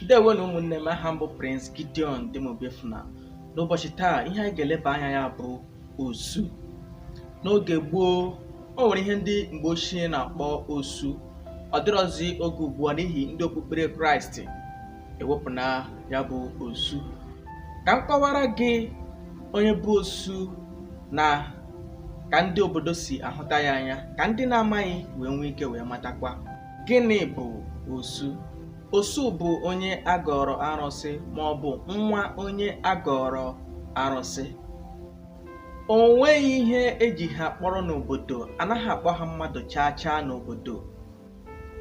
ndewo na ụmụnne m aha m bụ Prince Gideon Dim Obiefuna n'ụbọchị taa ihe anyị ga-eleba anya ya bụ osu n'oge gboo o nwere ihe ndị mgbe ochie na-akpọ osu ọ dịrọzi oge ugbu a n'ihi ndị okpukpere kraịst ewepụna ya bụ osu ka m kọwara gị onye bụ osu na ka ndị obodo si ahụta ya anya ka ndị na-amaghị wee nwee ike wee matakwa Gịnị bụ osu? Osu bụ onye a gọọrọ arụsị ma ọ bụ nwa onye a gọọrọ arụsị. O nweghị ihe e ji ha kpọrọ n'obodo, a naghị akpọ ha mmadụ chaa chaa n'obodo.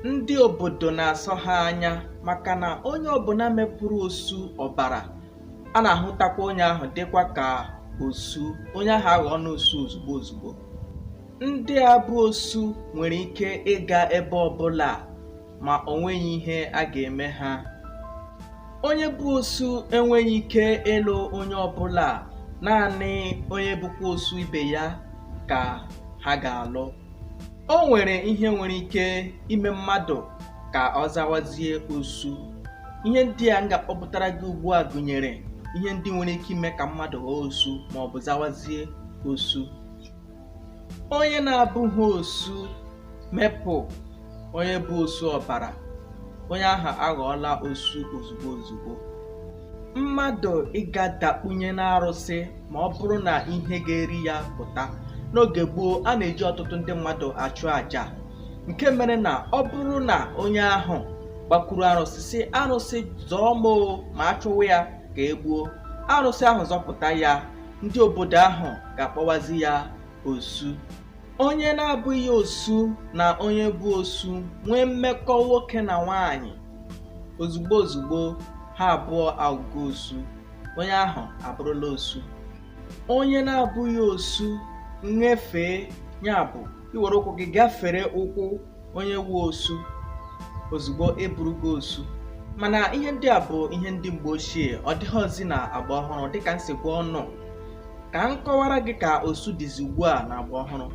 Ndị obodo na-asọ ha anya maka na onye ọbụla mepụrụ osu ọbara, a na-ahụtakwa onye ahụ dịkwa ka osu, onye ahụ aghọọna osu ozugbo ozugbo. Ndị a bụ osu nwere ike ịga ebe ọbụla ma o nweghị ihe a ga-eme ha. Onye bụ osu enweghị ike ịlụ onye ọbụla naanị onye bụkwa osu ibe ya ka ha ga-alụ. O nwere ihe nwere ike ime mmadụ ka ọ zawazie osu. Ihe ndị a m ga-akpọpụtara gị ugbu a gụnyere ihe ndị nwere ike ime ka mmadụ ghọọ osu maọbụ zawazie osu. onye na-abụghị osu mepụ onye bụ osu ọbara onye ahụ aghọọla osu ozugbo ozugbo mmadụ ịga dakpunye n'arụsị ma ọ bụrụ na ihe ga-eri ya pụta n'oge gboo a na-eji ọtụtụ ndị mmadụ achụ àjà nke mere na ọ bụrụ na onye ahụ gbakwuru arụsị sị arụsị zọọ m ma a chụwa ya ka e gbuo arụsị ahụ zọpụta ya ndị obodo ahụ ga-akpọwazi ya osu onye na-abụghị osu na onye bụ osu nwee mmekọ nwoke na nwaanyị ozugbo ozugbo ha abụọ aghọgo osu onye ahụ abụrụla osu onye na-abụghị osu nyefee ya bụ iwere ụkwụ gị gafere ụkwụ onye wụ osu ozugbo ị bụrụgo osu mana ihe ndị a bụ ihe ndị mgbe ochie ọ dịghịzi n'agba ọhụrụ dịka m si gwa unu ka m kọwara gị ka osu dịzi ugbu a n'agba ọhụrụ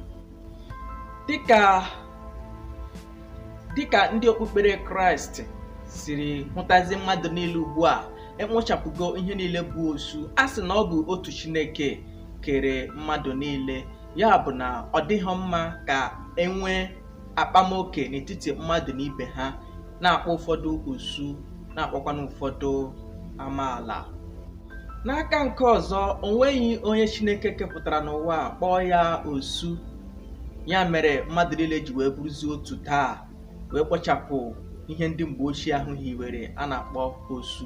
dịka ndị okpukpere kraịst siri hụtazi mmadụ niile ugbu a e wechapụgo ihe niile bụ osu a sị na ọ bụ otu chineke kere mmadụ niile ya bụ na ọ dịghị mma ka e nwee akpamoke n'etiti mmadụ na ibe ha na-akpọ ụfọdụ osu na-akpọkwana ụfọdụ amaala n'aka nke ọzọ o nweghị onye chineke kepụtara n'ụwa kpọọ ya osu ya mere mmadụ niile ji wee bụrụzie otu taa wee kpochapụ ihe ndị mgbe ochie ahụ hiwere a na-akpọ osu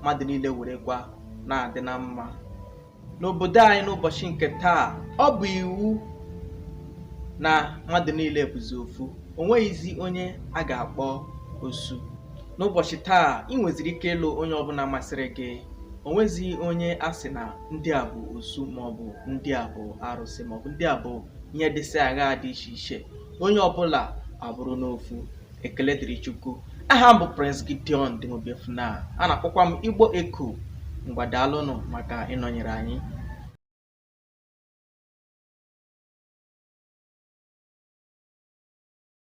mmadụ niile werekwa na-adị na mma n'obodo anyị n'ụbọchị nke taa ọ bụ iwu na mmadụ niile bụzi ofu o nweghịzi onye a ga-akpọ osu n'ụbọchị taa ị nweziri ike ịlụ onye ọbụla masịrị gị o nweghịzi onye a sị na ndị a bụ osu maọbụ ndị a bụ arụsị maọbụ ndị a bụ ihe dịsị aghaa dị iche iche onye ọbụla abụrụna ofu Ekele dịrị Chukwu. Aha m bụ Prince Gideon Dim Obiefuna. A na-akpọkwa m Igbo Echo. Ngwa daalụnụ maka ịnọnyere anyị.